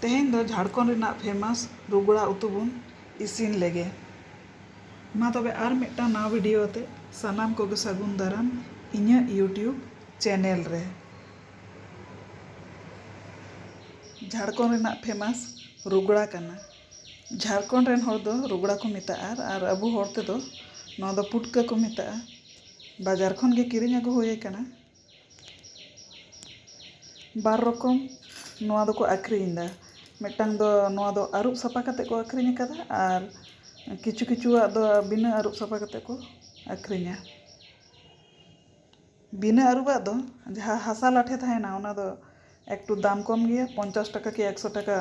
ᱛᱮᱦᱮᱧ ᱫᱚ ᱡᱷᱟᱲᱠᱷᱚᱸᱰ ᱨᱮᱱᱟᱜ ᱯᱷᱮᱢᱟᱥ ᱨᱩᱜᱽᱲᱟ ᱩᱛᱩ ᱵᱚᱱ ᱤᱥᱤᱱ ᱞᱮᱜᱮ᱾ ᱢᱟ ᱛᱚᱵᱮ ᱟᱨ ᱢᱤᱫᱴᱟᱝ ᱱᱟᱣᱟ ᱵᱷᱤᱰᱤᱭᱳ ᱟᱛᱮ ᱥᱟᱱᱟᱢ ᱠᱚᱜᱮ ᱥᱟᱹᱜᱩᱱ ᱫᱟᱨᱟᱢ ᱤᱧᱟᱹᱜ ᱭᱩᱴᱭᱩᱵᱽ ᱪᱮᱱᱮᱞ ᱨᱮ᱾ ᱡᱷᱟᱲᱠᱷᱚᱸᱰ ᱨᱮᱱᱟᱜ ᱯᱷᱮᱢᱟᱥ ᱨᱩᱜᱽᱲᱟ ᱠᱟᱱᱟ᱾ ᱡᱷᱟᱲᱠᱷᱚᱸᱰ ᱨᱮᱱ ᱦᱚᱲ ᱫᱚ ᱨᱩᱜᱽᱲᱟ ᱠᱚ ᱢᱮᱛᱟᱜᱼᱟ ᱟᱨ ᱟᱵᱚ ᱦᱚᱲ ᱛᱮᱫᱚ ᱱᱚᱣᱟ ᱫᱚ ᱯᱩᱴᱠᱟᱹ ᱠᱚ ᱢᱮᱛᱟᱜᱼᱟ᱾ ᱵᱟᱡᱟᱨ ᱠᱷᱚᱱ ᱜᱮ ᱠᱤᱨᱤᱧ ᱟᱹᱜᱩ ᱦᱩᱭ ᱟᱠᱟᱱᱟ᱾ ᱵᱟᱨ ᱨᱚᱠᱚᱢ ᱱᱚᱣᱟ ᱫᱚᱠᱚ ᱟᱹᱠᱷᱨᱤᱧ ᱮᱫᱟ᱾ ᱢᱤᱫᱴᱟᱝ ᱫᱚ ᱱᱚᱣᱟ ᱫᱚ ᱟᱹᱨᱩᱵ ᱥᱟᱯᱷᱟ ᱠᱟᱛᱮ ᱠᱚ ᱟᱹᱠᱷᱨᱤᱧ ᱟᱠᱟᱫᱟ ᱟᱨ ᱠᱤᱪᱷᱩ ᱠᱤᱪᱷᱩᱣᱟᱜ ᱫᱚ ᱵᱤᱱᱟᱹ ᱟᱹᱨᱩᱵ ᱥᱟᱯᱷᱟ ᱠᱟᱛᱮ ᱠᱚ ᱟᱹᱠᱷᱨᱤᱧᱟ᱾ ᱵᱤᱱᱟᱹ ᱟᱹᱨᱩᱵᱟᱜ ᱫᱚ ᱡᱟᱦᱟᱸ ᱦᱟᱥᱟ ᱞᱟᱴᱷᱮ ᱛᱟᱦᱮᱱᱟ ᱚᱱᱟ ᱫᱚ ᱮᱠᱴᱩ ᱫᱟᱢ ᱠᱚᱢ ᱜᱮᱭᱟ᱾ ᱯᱚᱧᱪᱟᱥ ᱴᱟᱠᱟ ᱠᱤ ᱮᱠᱥᱚ ᱴᱟᱠᱟ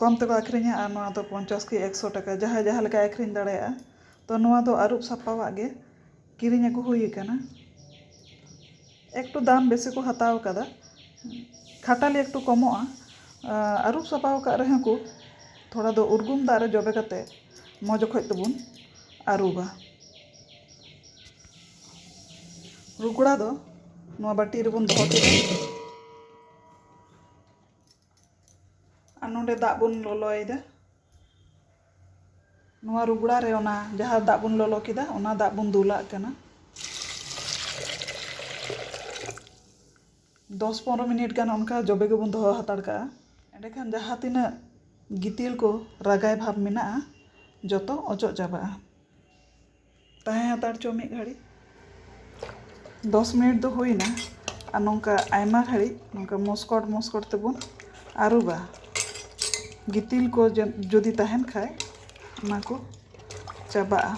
ᱠᱚᱢ ᱛᱮᱠᱚ ᱟᱹᱠᱷᱨᱤᱧᱟ ᱟᱨ ᱱᱚᱣᱟ ᱫᱚ ᱯᱚᱧᱪᱟᱥ ᱠᱤ ᱮᱠᱥᱚ ᱴᱟᱠᱟ ᱡᱟᱦᱟᱸᱭ ᱡᱟᱦᱟᱸ ᱞᱮᱠᱟᱭ ᱟᱹᱠᱷᱨᱤᱧ ᱫᱟᱲᱮᱭᱟᱜᱼᱟ᱾ ᱛᱚ ᱱᱚᱣᱟ ᱫᱚ ᱟᱹᱨᱩᱵ ᱥᱟᱯᱟᱣᱟᱜ ᱜᱮ ᱠᱤᱨᱤᱧ ᱟᱹᱜᱩ ᱦᱩᱭ ᱟᱠᱟᱱᱟ ᱮᱠᱴᱩ ᱫᱟᱢ ᱵᱮᱥᱤ ᱠᱚ ᱦᱟᱛᱟᱣ ᱟᱠᱟᱫᱟ ᱠᱷᱟᱴᱟᱞᱤ ᱮᱠᱴᱩ ᱠᱚᱢᱚᱜᱼᱟ ᱟᱹᱨᱩᱵ ᱥᱟᱯᱟ ᱟᱠᱟᱫ ᱨᱮᱦᱚᱸ ᱠᱚ ᱛᱷᱚᱲᱟ ᱫᱚ ᱩᱨᱜᱩᱢ ᱫᱟᱜ ᱨᱮ ᱡᱚᱵᱮ ᱠᱟᱛᱮᱫ ᱢᱚᱡᱽ ᱚᱠᱚᱡ ᱛᱮᱵᱚᱱ ᱟᱹᱨᱩᱵᱟ ᱨᱩᱜᱽᱲᱟ ᱫᱚ ᱱᱚᱣᱟ ᱵᱟᱹᱴᱤ ᱨᱮᱵᱚᱱ ᱫᱚᱦᱚ ᱠᱮᱫᱟ ᱟᱨ ᱱᱚᱰᱮ ᱫᱟᱜ ᱵᱚᱱ ᱞᱚᱞᱚᱭᱮᱫᱟ ᱱᱚᱣᱟ ᱨᱩᱜᱽᱲᱟ ᱨᱮ ᱚᱱᱟ ᱡᱟᱦᱟᱸ ᱫᱟᱜ ᱵᱚᱱ ᱞᱚᱞᱚ ᱠᱮᱫᱟ ᱚᱱᱟ ᱫᱟᱜ ᱵᱚᱱ ᱫᱩᱞᱟᱜ ᱠᱟᱱᱟ ᱫᱚᱥ ᱯᱚᱱᱨᱚ ᱢᱤᱱᱤᱴ ᱜᱟᱱ ᱚᱱᱠᱟ ᱡᱚᱵᱮ ᱜᱮᱵᱚᱱ ᱫᱚᱦᱚ ᱦᱟᱛᱟᱲ ᱠᱟᱜᱼᱟ ᱮᱸᱰᱮᱠᱷᱟᱱ ᱡᱟᱦᱟᱸ ᱛᱤᱱᱟᱹᱜ ᱜᱤᱛᱤᱞ ᱠᱚ ᱨᱟᱜᱟᱭ ᱵᱷᱟᱵᱽ ᱢᱮᱱᱟᱜᱼᱟ ᱡᱚᱛᱚ ᱚᱪᱚᱜ ᱪᱟᱵᱟᱜᱼᱟ ᱛᱟᱦᱮᱸ ᱦᱟᱛᱟᱲ ᱪᱚ ᱢᱤᱫ ᱜᱷᱟᱹᱲᱤᱡ ᱫᱚᱥ ᱢᱤᱱᱤᱴ ᱫᱚ ᱦᱩᱭᱱᱟ ᱟᱨ ᱱᱚᱝᱠᱟ ᱟᱭᱢᱟ ᱜᱷᱟᱹᱲᱤᱡ ᱱᱚᱝᱠᱟ ᱢᱚᱥᱠᱚᱴ ᱢᱚᱥᱠᱚᱴ ᱛᱮᱵᱚᱱ ᱟᱹᱨᱩᱵᱟ ᱜᱤᱛᱤᱞ ᱠᱚ ᱡᱩᱫᱤ ᱛᱟᱦᱮᱱ ᱠᱷᱟᱡ ᱚᱱᱟ ᱠᱚ ᱪᱟᱵᱟᱜᱼᱟ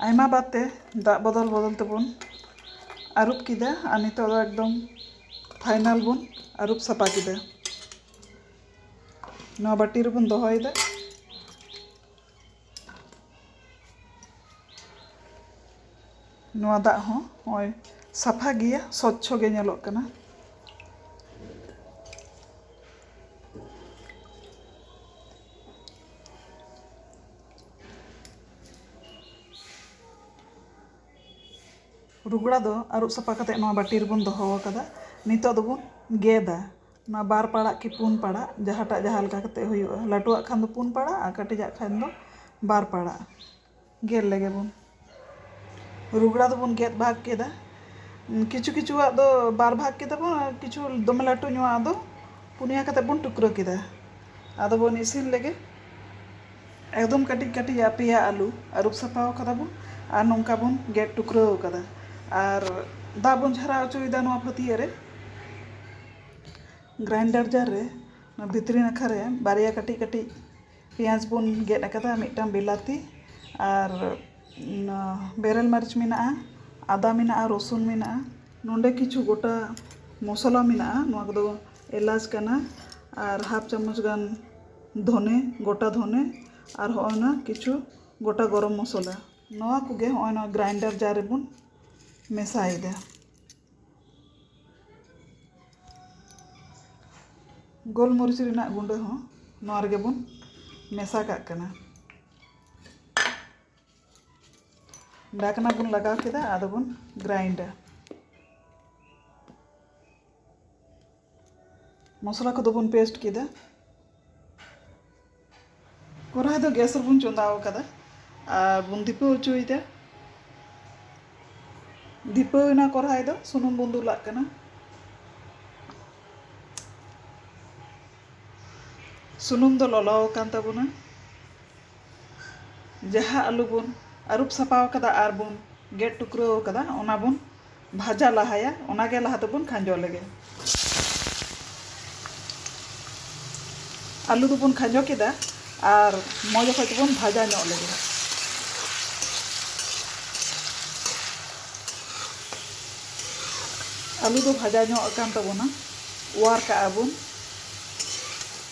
ᱟᱭᱢᱟ ᱵᱟᱨ ᱛᱮ ᱫᱟᱜ ᱵᱚᱫᱚᱞ ᱵᱚᱫᱚᱞ ᱛᱮᱵᱚᱱ ᱟᱹᱨᱩᱵ ᱠᱮᱫᱟ ᱟᱨ ᱱᱤᱛᱚᱜ ᱫᱚ ᱮᱠᱫᱚᱢ ᱯᱷᱟᱭᱱᱟᱞ ᱵᱚᱱ ᱟᱹᱨᱩᱵ ᱥᱟᱯᱷᱟ ᱠᱮᱫᱟ ᱱᱚᱣᱟ ᱵᱟᱹᱴᱤ ᱨᱮᱵᱚᱱ ᱫᱚᱦᱚᱭᱮᱫᱟ ᱱᱚᱣᱟ ᱫᱟᱜ ᱦᱚᱸ ᱱᱚᱜᱼᱚᱭ ᱥᱟᱯᱷᱟ ᱜᱮᱭᱟ ᱥᱚᱪᱪᱷᱚ ᱜᱮ ᱧᱮᱞᱚᱜ ᱠᱟᱱᱟ ᱨᱩᱜᱽᱲᱟ ᱫᱚ ᱟᱹᱨᱩᱵ ᱥᱟᱯᱷᱟ ᱠᱟᱛᱮ ᱱᱚᱣᱟ ᱵᱟᱹᱴᱤ ᱨᱮᱵᱚᱱ ᱫᱚᱦᱚ ᱟᱠᱟᱫᱟ ᱱᱤᱛᱚᱜ ᱫᱚᱵᱚᱱ ᱜᱮᱫᱟ ᱱᱚᱣᱟ ᱵᱟᱨ ᱯᱟᱲᱟᱜ ᱠᱤ ᱯᱩᱱ ᱯᱟᱲᱟᱜ ᱡᱟᱦᱟᱸᱴᱟᱜ ᱡᱟᱦᱟᱸ ᱞᱮᱠᱟ ᱠᱟᱛᱮ ᱦᱩᱭᱩᱜᱼᱟ ᱞᱟᱹᱴᱩᱣᱟᱜ ᱠᱷᱟᱱ ᱫᱚ ᱯᱩᱱ ᱯᱟᱲᱟᱜ ᱟᱨ ᱠᱟᱹᱴᱤᱡᱟᱜ ᱠᱷᱟᱱ ᱫᱚ ᱵᱟᱨ ᱯᱟᱲᱟᱜ ᱜᱮᱫ ᱞᱮᱜᱮ ᱵᱚᱱ ᱨᱩᱜᱽᱲᱟ ᱫᱚᱵᱚᱱ ᱜᱮᱫ ᱵᱷᱟᱜᱽ ᱠᱮᱫᱟ ᱠᱤᱪᱷᱩ ᱠᱤᱪᱷᱩᱣᱟᱜ ᱫᱚ ᱵᱟᱨ ᱵᱷᱟᱜᱽ ᱠᱮᱫᱟ ᱵᱚᱱ ᱟᱨ ᱠᱤᱪᱷᱩ ᱫᱚᱢᱮ ᱞᱟᱹᱴᱩ ᱧᱚᱜᱼᱟᱜ ᱫᱚ ᱯᱩᱱᱭᱟᱹ ᱠᱟᱛᱮ ᱵᱚᱱ ᱴᱩᱠᱨᱟᱹ ᱠᱮᱫᱟ ᱟᱫᱚ ᱵᱚᱱ ᱤᱥᱤᱱ ᱞᱮᱜᱮ ᱮᱠᱫᱚᱢ ᱠᱟᱹᱴᱤᱡ ᱠᱟᱹᱴᱤᱡ ᱟᱜ ᱯᱮᱭᱟ ᱟᱹᱞᱩ ᱟᱹᱨᱩᱵ ᱥᱟᱯᱷᱟ ᱟᱠᱟᱫᱟ ᱵᱚᱱ ᱟᱨ ᱱᱚᱝᱠᱟ ᱵᱚᱱ ᱜᱮᱫ ᱴᱩᱠᱨᱟᱹᱣ ᱟᱠᱟᱫᱟ ᱟᱨ ᱫᱟᱜ ᱵᱚᱱ ᱡᱷᱟᱨᱟᱣ ᱚᱪᱚᱭᱮᱫᱟ ᱱᱚᱣᱟ ᱯᱷᱟᱹᱛᱭᱟᱹᱜ ᱨᱮ ᱜᱨᱟᱭᱤᱱᱰᱟᱨ ᱡᱟᱨ ᱨᱮ ᱱᱚᱣᱟ ᱵᱷᱤᱛᱨᱤ ᱱᱟᱠᱷᱟ ᱨᱮ ᱵᱟᱨᱭᱟ ᱠᱟᱹᱴᱤᱡ ᱠᱟᱹᱴᱤᱡ ᱯᱮᱸᱭᱟᱡᱽ ᱵᱚᱱ ᱜᱮᱫ ᱟᱠᱟᱫᱟ ᱢᱤᱫᱴᱟᱝ ᱵᱤᱞᱟᱹᱛᱤ ᱟᱨ ᱵᱮᱨᱮᱞ ᱢᱟᱹᱨᱤᱪ ᱢᱮᱱᱟᱜᱼᱟ ᱟᱫᱟ ᱢᱮᱱᱟᱜᱼᱟ ᱨᱚᱥᱩᱱ ᱢᱮᱱᱟᱜᱼᱟ ᱱᱚᱰᱮ ᱠᱤᱪᱷᱩ ᱜᱚᱴᱟ ᱢᱚᱥᱞᱟ ᱢᱮᱱᱟᱜᱼᱟ ᱱᱚᱣᱟ ᱠᱚᱫᱚ ᱮᱞᱟᱪ ᱠᱟᱱᱟ ᱟᱨ ᱦᱟᱯ ᱪᱟᱢᱚᱪ ᱜᱟᱱ ᱫᱷᱚᱱᱮ ᱜᱚᱴᱟ ᱫᱷᱚᱱᱮ ᱟᱨ ᱦᱚᱜᱼᱚᱭ ᱱᱚᱣᱟ ᱠᱤᱪᱷᱩ ᱜᱚᱴᱟ ᱜᱚᱨᱚᱢ ᱢᱚᱥᱚᱞᱟ ᱱᱚᱣᱟ ᱠᱚᱜᱮ ᱦᱚᱜᱼᱚᱭ ᱱᱚᱣᱟ ᱜᱨᱟᱭᱤᱱᱰᱟᱨ ᱡᱟᱨ ᱨᱮᱵᱚᱱ ᱢᱮᱥᱟᱭᱮᱫᱟ᱾ ᱜᱳᱞ ᱢᱚᱨᱤᱪ ᱨᱮᱱᱟᱜ ᱜᱩᱸᱰᱟᱹ ᱦᱚᱸ ᱱᱚᱣᱟ ᱨᱮᱜᱮ ᱵᱚᱱ ᱢᱮᱥᱟ ᱠᱟᱜ ᱠᱟᱱᱟ᱾ ᱰᱷᱟᱠᱱᱟ ᱵᱚᱱ ᱞᱟᱜᱟᱣ ᱠᱮᱫᱟ ᱟᱫᱚ ᱵᱚᱱ ᱜᱨᱟᱭᱤᱱᱰᱟ᱾ ᱢᱚᱥᱞᱟ ᱠᱚᱫᱚ ᱵᱚᱱ ᱯᱮᱥᱴ ᱠᱮᱫᱟ ᱠᱚᱨᱟᱭ ᱫᱚ ᱜᱮᱥ ᱨᱮᱵᱚᱱ ᱪᱚᱸᱫᱟ ᱟᱠᱟᱫᱟ ᱟᱨ ᱵᱚᱱ ᱫᱤᱯᱟᱹᱣ ᱦᱚᱪᱚᱭᱮᱫᱟ ᱫᱤᱯᱟᱹᱣ ᱮᱱᱟ ᱠᱚᱨᱟᱭ ᱫᱚ ᱥᱩᱱᱩᱢ ᱵᱚᱱ ᱫᱩᱞᱟᱜ ᱠᱟᱱᱟ ᱥᱩᱱᱩᱢ ᱫᱚ ᱞᱚᱞᱚ ᱟᱠᱟᱱ ᱛᱟᱵᱚᱱᱟ ᱡᱟᱦᱟᱸ ᱟᱹᱞᱩ ᱵᱚᱱ ᱟᱹᱨᱩᱵ ᱥᱟᱯᱷᱟ ᱟᱠᱟᱫᱟ ᱟᱨ ᱵᱚᱱ ᱜᱮᱫ ᱴᱩᱠᱨᱟᱹᱣ ᱟᱠᱟᱫᱟ ᱚᱱᱟ ᱵᱚᱱ ᱵᱷᱟᱡᱟ ᱞᱟᱦᱟᱭᱟ ᱚᱱᱟ ᱜᱮ ᱞᱟᱦᱟ ᱫᱚᱵᱚᱱ ᱠᱷᱟᱸᱡᱚ ᱞᱮᱜᱮ᱾ ᱟᱹᱞᱩ ᱫᱚᱵᱚᱱ ᱠᱷᱟᱸᱡᱚ ᱠᱮᱫᱟ ᱟᱨ ᱢᱚᱡᱽ ᱚᱠᱚᱡ ᱛᱮᱵᱚᱱ ᱵᱷᱟᱡᱟ ᱧᱚᱜ ᱞᱮᱜᱮ᱾ ᱟᱹᱞᱩ ᱫᱚ ᱵᱷᱟᱡᱟ ᱧᱚᱜ ᱟᱠᱟᱱ ᱛᱟᱵᱚᱱᱟ ᱚᱣᱟᱨ ᱠᱟᱜᱼᱟ ᱵᱚᱱ᱾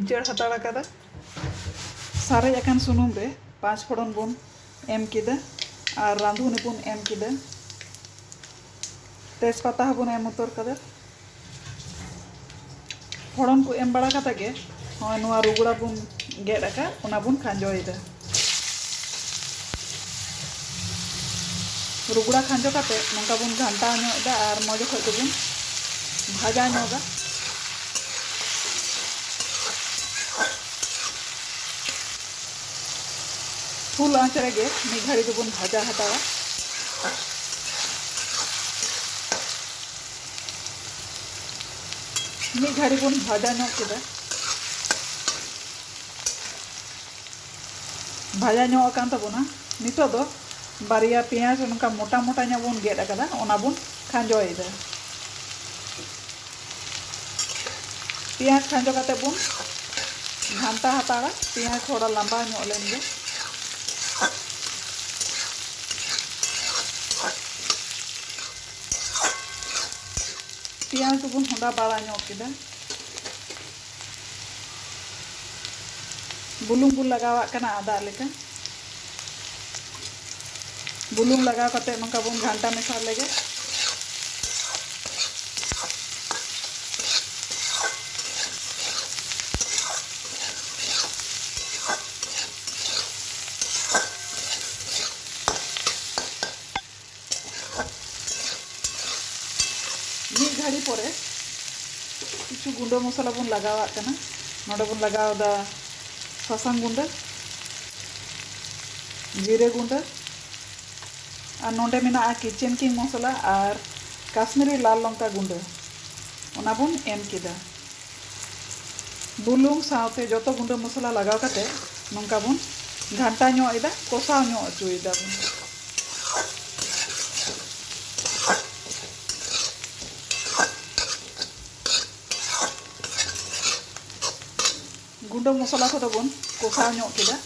ᱤᱪᱟᱹᱲ ᱦᱟᱛᱟᱲ ᱟᱠᱟᱫᱟ ᱥᱟᱨᱮᱡ ᱟᱠᱟᱱ ᱥᱩᱱᱩᱢ ᱨᱮ ᱯᱟᱸᱪ ᱯᱷᱚᱲᱚᱱ ᱵᱚᱱ ᱮᱢ ᱠᱮᱫᱟ ᱟᱨ ᱨᱟᱸᱫᱷᱩᱱᱤ ᱵᱚᱱ ᱮᱢ ᱠᱮᱫᱟ ᱛᱮᱡᱽ ᱯᱟᱛᱟ ᱦᱚᱸ ᱵᱚᱱ ᱮᱢ ᱩᱛᱟᱹᱨ ᱠᱟᱫᱟ ᱯᱷᱚᱲᱚᱱ ᱠᱚ ᱮᱢ ᱵᱟᱲᱟ ᱠᱟᱛᱮ ᱜᱮ ᱱᱚᱜᱼᱚᱭ ᱱᱚᱣᱟ ᱨᱩᱜᱽᱲᱟ ᱵᱚᱱ ᱜᱮᱫ ᱟᱠᱟᱫ ᱚᱱᱟ ᱵᱚᱱ ᱠᱷᱟᱸᱡᱚᱭᱮᱫᱟ ᱨᱩᱜᱽᱲᱟ ᱠᱷᱟᱸᱡᱚ ᱠᱟᱛᱮ ᱱᱚᱝᱠᱟ ᱵᱚᱱ ᱜᱷᱟᱱᱴᱟᱣ ᱧᱚᱜ ᱮᱫᱟ ᱟᱨ ᱢᱚᱡᱽ ᱚᱠᱚᱡ ᱛᱮᱵᱚᱱ ᱵᱷᱟᱡᱟ ᱧᱚᱜᱟ ᱯᱷᱩᱞ ᱟᱸᱪ ᱨᱮᱜᱮ ᱢᱤᱫ ᱜᱷᱟᱹᱲᱤ ᱫᱚᱵᱚᱱ ᱵᱷᱟᱡᱟ ᱦᱟᱛᱟᱣᱟ ᱢᱤᱫ ᱜᱷᱟᱹᱲᱤ ᱵᱚᱱ ᱵᱷᱟᱡᱟ ᱧᱚᱜ ᱠᱮᱫᱟ ᱵᱷᱟᱡᱟ ᱧᱚᱜ ᱟᱠᱟᱱ ᱛᱟᱵᱚᱱᱟ ᱱᱤᱛᱚᱜ ᱫᱚ ᱵᱟᱨᱭᱟ ᱯᱮᱸᱭᱟᱡᱽ ᱱᱚᱝᱠᱟ ᱢᱚᱴᱟ ᱢᱚᱴᱟ ᱧᱚᱜ ᱵᱚᱱ ᱜᱮᱫ ᱟᱠᱟᱫᱟ ᱚᱱᱟ ᱵᱚᱱ ᱠᱷᱟᱸᱡᱚᱭᱮᱫᱟ ᱯᱮᱸᱭᱟᱡᱽ ᱠᱷᱟᱸᱡᱚ ᱠᱟᱛᱮ ᱵᱚᱱ ᱜᱷᱟᱱᱴᱟ ᱦᱟᱛᱟᱲᱟ ᱯᱮᱸᱭᱟᱡᱽ ᱛᱷᱚᱲᱟ ᱞᱟᱢᱵᱟ ᱧᱚᱜ ᱞᱮᱱ ᱜᱮ ᱯᱮᱸᱭᱟᱡᱽ ᱵᱚᱱ ᱦᱚᱸᱰᱟ ᱵᱟᱲᱟ ᱧᱚᱜ ᱠᱮᱫᱟ ᱵᱩᱞᱩᱝ ᱵᱚ ᱞᱟᱜᱟᱣᱟᱜ ᱠᱟᱱᱟ ᱟᱫᱟ ᱞᱮᱠᱟ ᱵᱩᱞᱩᱝ ᱞᱟᱜᱟᱣ ᱠᱟᱛᱮ ᱱᱚᱝᱠᱟ ᱵᱚᱱ ᱜᱷᱟᱱᱴᱟ ᱢᱮᱥᱟ ᱞᱮᱜᱮ ᱢᱤᱫ ᱜᱷᱟᱹᱲᱤ ᱯᱚᱨᱮ ᱠᱤᱪᱷᱩ ᱜᱩᱸᱰᱟᱹ ᱢᱚᱥᱞᱟ ᱵᱚᱱ ᱞᱟᱜᱟᱣᱟᱜ ᱠᱟᱱᱟ ᱱᱚᱰᱮ ᱵᱚᱱ ᱞᱟᱜᱟᱣ ᱮᱫᱟ ᱥᱟᱥᱟᱝ ᱜᱩᱸᱰᱟᱹ ᱡᱤᱨᱟᱹ ᱜᱩᱸᱰᱟᱹ ᱟᱨ ᱱᱚᱰᱮ ᱢᱮᱱᱟᱜᱼᱟ ᱠᱤᱪᱮᱱ ᱠᱤᱝ ᱢᱚᱥᱞᱟ ᱟᱨ ᱠᱟᱥᱢᱤᱨᱤ ᱞᱟᱞ ᱞᱚᱝᱠᱟ ᱜᱩᱸᱰᱟᱹ ᱚᱱᱟ ᱵᱚᱱ ᱮᱢ ᱠᱮᱫᱟ ᱵᱩᱞᱩᱝ ᱥᱟᱶᱛᱮ ᱡᱚᱛᱚ ᱜᱩᱸᱰᱟᱹ ᱢᱚᱥᱞᱟ ᱞᱟᱜᱟᱣ ᱠᱟᱛᱮ ᱱᱚᱝᱠᱟ ᱵᱚᱱ ᱜᱷᱟᱱᱴᱟ ᱧᱚᱜ ᱮᱫᱟ ᱠᱚᱥᱟᱣ ᱧᱚᱜ ᱚᱪᱚᱭᱮᱫᱟ ᱵᱚᱱ᱾ ᱜᱩᱸᱰᱟᱹ ᱢᱚᱥᱞᱟ ᱠᱚᱫᱚ ᱵᱚᱱ ᱠᱚᱥᱟᱣ ᱧᱚᱜ ᱠᱮᱫᱟ᱾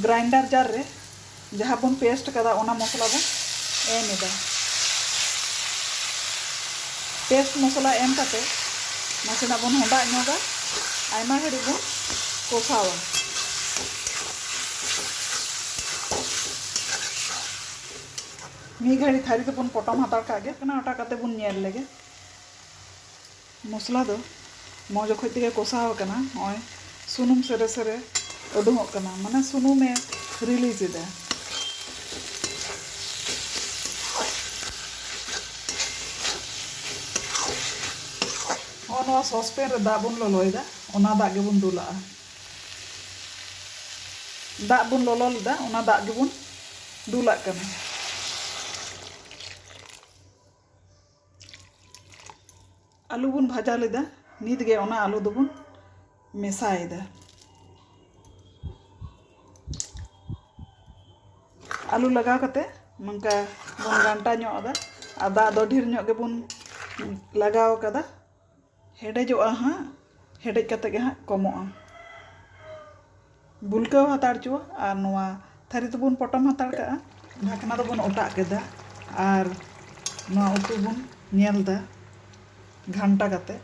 ᱜᱨᱟᱭᱤᱱᱰᱟᱨ ᱡᱟᱨ ᱨᱮ ᱡᱟᱦᱟᱸ ᱵᱚᱱ ᱯᱮᱥᱴ ᱠᱟᱫᱟ ᱚᱱᱟ ᱢᱚᱥᱞᱟ ᱵᱚᱱ ᱮᱢ ᱮᱫᱟ ᱯᱮᱥᱴ ᱢᱚᱥᱞᱟ ᱮᱢ ᱠᱟᱛᱮ ᱱᱟᱥᱮᱱᱟᱜ ᱵᱚᱱ ᱦᱮᱰᱟᱜ ᱧᱚᱜᱟ ᱟᱭᱢᱟ ᱜᱷᱟᱹᱲᱤᱡ ᱵᱚᱱ ᱠᱚᱥᱟᱣᱟ ᱢᱤᱫ ᱜᱷᱟᱹᱲᱤ ᱛᱷᱟᱹᱨᱤ ᱛᱮᱵᱚᱱ ᱯᱚᱴᱚᱢ ᱦᱟᱛᱟᱲ ᱠᱟᱜ ᱜᱮ ᱠᱟᱱᱟ ᱚᱴᱟ ᱠᱟᱛᱮ ᱵᱚᱱ ᱧᱮᱞ ᱞᱮᱜᱮ ᱢᱚᱥᱞᱟ ᱫᱚ ᱢᱚᱡᱽ ᱚᱠᱚᱡ ᱛᱮᱜᱮ ᱠᱚᱥᱟᱣ ᱟᱠᱟᱱᱟ ᱱᱚᱜᱼᱚᱭ ᱥᱩᱱᱩᱢ ᱥᱮᱨᱮ ᱥᱮᱨᱮ ᱩᱰᱩᱝᱚᱜ ᱠᱟᱱᱟ ᱢᱟᱱᱮ ᱥᱩᱱᱩᱢᱮ ᱨᱤᱞᱤᱡᱽ ᱮᱫᱟ ᱱᱚᱜᱼᱚ ᱱᱚᱣᱟ ᱥᱚᱥᱯᱮᱱ ᱨᱮ ᱫᱟᱜ ᱵᱚᱱ ᱞᱚᱞᱚᱭᱮᱫᱟ ᱚᱱᱟ ᱫᱟᱜ ᱜᱮᱵᱚᱱ ᱫᱩᱞᱟᱜᱼᱟ ᱫᱟᱜ ᱵᱚᱱ ᱞᱚᱞᱚ ᱞᱮᱫᱟ ᱚᱱᱟ ᱫᱟᱜ ᱜᱮᱵᱚᱱ ᱫᱩᱞᱟᱜ ᱠᱟᱱᱟ ᱟᱹᱞᱩ ᱵᱚᱱ ᱵᱷᱟᱡᱟ ᱞᱮᱫᱟ ᱱᱤᱛ ᱜᱮ ᱚᱱᱟ ᱟᱹᱞᱩ ᱫᱚᱵᱚᱱ ᱢᱮᱥᱟᱭᱮᱫᱟ ᱟᱹᱞᱩ ᱞᱟᱜᱟᱣ ᱠᱟᱛᱮ ᱱᱚᱝᱠᱟ ᱵᱚᱱ ᱜᱷᱟᱱᱴᱟ ᱧᱚᱜ ᱟᱫᱟ ᱟᱨ ᱫᱟᱜ ᱫᱚ ᱰᱷᱮᱨ ᱧᱚᱜ ᱜᱮᱵᱚᱱ ᱞᱟᱜᱟᱣ ᱠᱟᱫᱟ ᱦᱮᱰᱮᱡᱚᱜᱼᱟ ᱦᱟᱸᱜ ᱦᱮᱰᱮᱡ ᱠᱟᱛᱮᱫ ᱜᱮ ᱦᱟᱸᱜ ᱠᱚᱢᱚᱜᱼᱟ ᱵᱩᱞᱠᱟᱹᱣ ᱦᱟᱛᱟᱲ ᱦᱚᱪᱚᱣᱟᱜ ᱟᱨ ᱱᱚᱣᱟ ᱛᱷᱟᱹᱨᱤ ᱫᱚᱵᱚᱱ ᱯᱚᱴᱚᱢ ᱦᱟᱛᱟᱲ ᱠᱟᱜᱼᱟ ᱰᱷᱟᱠᱱᱟ ᱫᱚᱵᱚᱱ ᱚᱴᱟᱜ ᱠᱮᱫᱟ ᱟᱨ ᱱᱚᱣᱟ ᱩᱛᱩ ᱵᱚᱱ ᱧᱮᱞ ᱮᱫᱟ ᱜᱷᱟᱱᱴᱟ ᱠᱟᱛᱮᱫ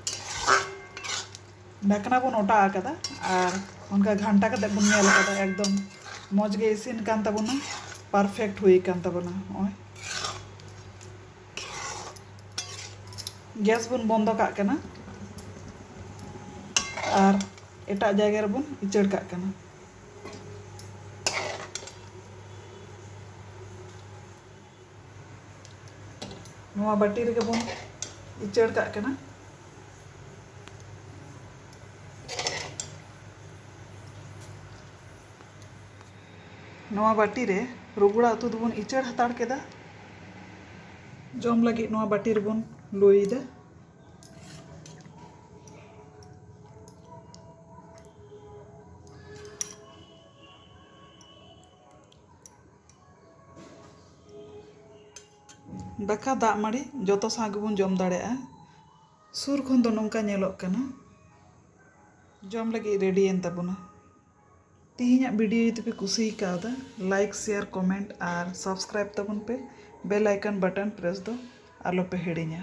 ᱰᱷᱟᱠᱱᱟ ᱵᱚᱱ ᱚᱴᱟᱜ ᱟᱠᱟᱫᱟ ᱟᱨ ᱚᱱᱠᱟ ᱜᱷᱟᱱᱴᱟ ᱠᱟᱛᱮᱫ ᱵᱚᱱ ᱧᱮᱞ ᱟᱠᱟᱫᱟ ᱮᱠᱫᱚᱢ ᱢᱚᱡᱽ ᱜᱮ ᱤᱥᱤᱱ ᱟᱠᱟᱱ ᱛᱟᱵᱚᱱᱟ ᱯᱟᱨᱯᱷᱮᱠᱴ ᱦᱩᱭ ᱟᱠᱟᱱ ᱛᱟᱵᱚᱱᱟ ᱱᱚᱜᱼᱚᱭ ᱜᱮᱥ ᱵᱚᱱ ᱵᱚᱱᱫᱚ ᱠᱟᱜ ᱠᱟᱱᱟ ᱟᱨ ᱮᱴᱟᱜ ᱡᱟᱭᱜᱟ ᱨᱮᱵᱚᱱ ᱩᱪᱟᱹᱲ ᱠᱟᱜ ᱠᱟᱱᱟ ᱱᱚᱣᱟ ᱵᱟᱹᱴᱤ ᱨᱮᱜᱮ ᱵᱚᱱ ᱩᱪᱟᱹᱲ ᱠᱟᱜ ᱠᱟᱱᱟ ᱱᱚᱣᱟ ᱵᱟᱹᱴᱤ ᱨᱮ ᱨᱩᱜᱩᱲᱟ ᱩᱛᱩ ᱫᱚᱵᱚᱱ ᱤᱪᱟᱹᱲ ᱦᱟᱛᱟᱲ ᱠᱮᱫᱟ᱾ ᱡᱚᱢ ᱞᱟᱹᱜᱤᱫ ᱱᱚᱣᱟ ᱵᱟᱹᱴᱤ ᱨᱮᱵᱚᱱ ᱞᱩᱭᱮᱫᱟ᱾ ᱫᱟᱠᱟ ᱫᱟᱜ ᱢᱟᱹᱲᱤ ᱡᱚᱛᱚ ᱥᱟᱶ ᱜᱮᱵᱚᱱ ᱡᱚᱢ ᱫᱟᱲᱮᱭᱟᱜᱼᱟ᱾ ᱥᱩᱨ ᱠᱷᱚᱱ ᱫᱚ ᱱᱚᱝᱠᱟ ᱧᱮᱞᱚᱜ ᱠᱟᱱᱟ᱾ ᱡᱚᱢ ᱞᱟᱹᱜᱤᱫ ᱨᱮᱰᱤᱭᱮᱱ ᱛᱟᱵᱚᱱᱟ᱾ ᱛᱤᱦᱤᱧᱟᱜ ᱵᱤᱰᱤᱭᱳ ᱡᱩᱫᱤ ᱯᱮ ᱠᱩᱥᱤ ᱠᱟᱣᱫᱟ ᱞᱟᱭᱤᱠ ᱥᱮᱭᱟᱨ ᱠᱚᱢᱮᱱᱴ ᱟᱨ ᱥᱟᱵᱥᱠᱨᱟᱭᱤᱵ ᱛᱟᱵᱚᱱ ᱯᱮ ᱵᱮᱞ ᱟᱭᱠᱚᱱ ᱵᱟᱴᱚᱱ ᱯᱨᱮᱥ ᱫᱚ ᱟᱞᱚ ᱯᱮ ᱦᱤᱲᱤᱧᱟ